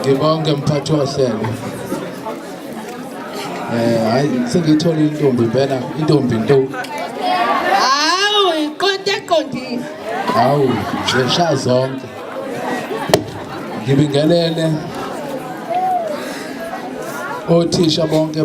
ngibonge mphathi wohlelo eh hayi sengithola intombi impela intombi nto hawu iqonde eqondile hawu zesha zonke ngibingelele othisha bonke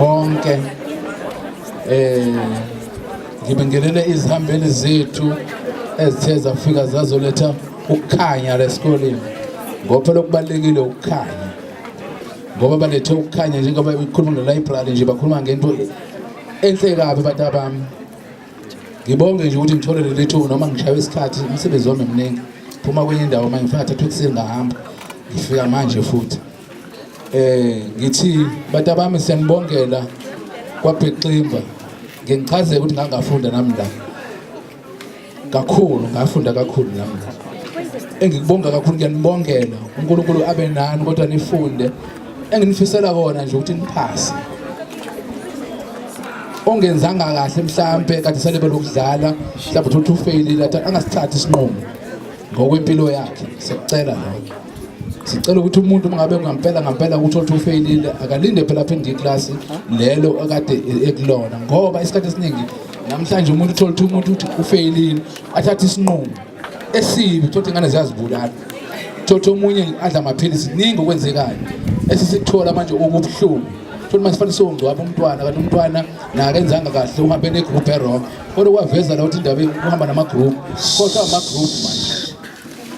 bonke eh ngibingelele izihambeli zethu ezithe zafika zazoletha ukukhanya lesikoleni ngoba phela okubalekile ukukhanya ngoba balethe ukukhanya njengoba ikhuluma ne library nje bakhuluma ngento enhle kabi abantu abami ngibonge nje ukuthi ngithole leli thuba noma ngishaye isikhathi umsebenzi wami mningi phuma kwenye indawo uma ngifika thatha ukusini ngahamba ngifika manje futhi eh ngithi batabami siyanibongela kwabheximba ngichazeke ukuthi ngangafunda nami la kakhulu ngafunda kakhulu nami la engikubonga kakhulu ngiyanibongela uNkulunkulu abe nani kodwa nifunde enginifisela kona nje ukuthi niphase ongenzanga kahle mhlambe kade selebe lokudlala mhlambe uthi ufailile angasithathi isinqumo ngokwempilo yakhe sekucela lokho sicela ukuthi umuntu ungabe ngampela ngampela ukuthi othi ufeyilile akalinde phela aphinde iklasi lelo akade ekulona ngoba isikhathi esiningi namhlanje umuntu uthola ukuthi umuntu uthi ufeyilile athathe isinqumo esibi thothi ingane ziyazibulala thothi omunye adla amaphilisi kuningi okwenzekayo esisikuthola manje okubuhlungu futhi manje sifanele songcwaba umntwana kanti umntwana nakenzanga kahle uhambe negroup erong Kodwa kwaveza la ukuthi indaba ihamba nama group. Khohlwa ama group manje.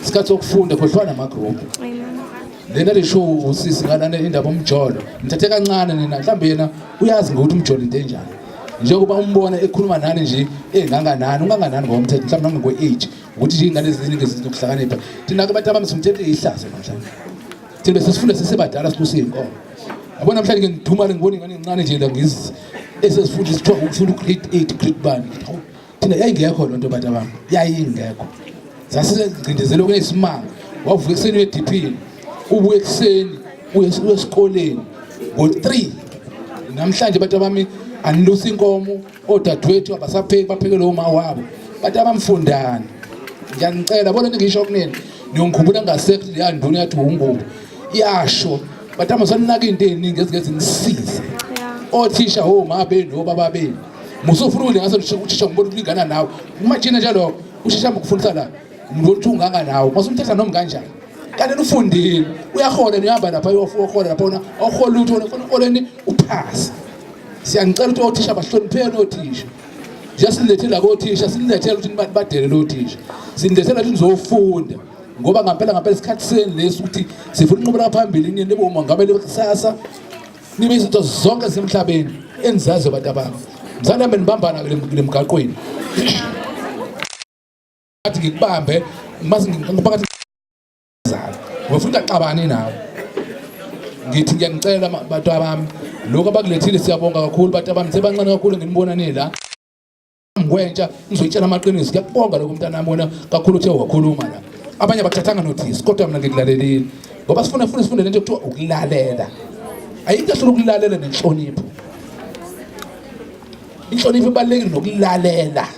Isikhathi sokufunda khohlwa nama group. Lena le show usisi ngalana indaba umjolo. Ngithathe kancane nina mhlambe yena uyazi ngokuthi umjolo into enjani. Njengoba umbona ekhuluma nani nje enganganani unganganani ngokomthetho mhlawumbe nangokwe age ukuthi nje ingane eziningi zinokuhlakanipha. Thina ke abantu abamsumthetho ihlazo namhlanje. Thina sesifunda sesebadala silusi inkomo. yabo namhlanje ngidumane ngibona ingane encane nje la ngizi esesifunda isithiwa ukufunda ugrade eight grade bani thina yayingekho loo nto bantu abam yayingekho sasisengcindezele okunesimanga wavuka ekuseni uyediphini ubuye ekuseni uyesikoleni ngo-three namhlanje bantu abami anilusa inkomo odadewethu abasapheki baphekele uma wabo kanti abamfundani ngiyanicela bona ningisho kunini niyongikhumbula ngasekho leya nduna yathi wungubo iyasho but amasanaka into eziningi ezike zinisize othisha woma benu obaba benu musofuna ukudla ngaso uthisha ngibona ukulingana nawe kumajina njalo ushesha ukufundisa la umuntu othi unganga nawe masumthetha noma kanjani kanti nufundile uyahola nihamba lapha uyohola lapha ona ohola lutho ona uholeni uphasa Siyanicela ukuthi othisha bahlonipheni othisha. Siyasilethela kothisha, sinilethela ukuthi nibadelele othisha. Sinilethela ukuthi nizofunda ngoba ngampela ngampela isikhathi senu lesi ukuthi sifuna unqubela phambili nini nibe umongameli kusasa nibe izinto zonke zemhlabeni enizazi abantu abami mzane mina nibambana kule mgaqweni athi ngikubambe mase ngiphakathi zalo ngifuna axabane nawe ngithi ngiyanicela bantu abami lokho abakulethile siyabonga kakhulu bantu abami sebancane kakhulu nginibonane la ngikwentsha ngizoyitshela amaqiniso ngiyakubonga lokho mntana wami wena kakhulu uthe wakhuluma la abanye abathathanga notice kodwa mina ngikulalelile ngoba sifuna funa sifunde lento kuthiwa ukulalela ayikho kahle ukulalela nenhlonipho inhlonipho ibalulekile nokulalela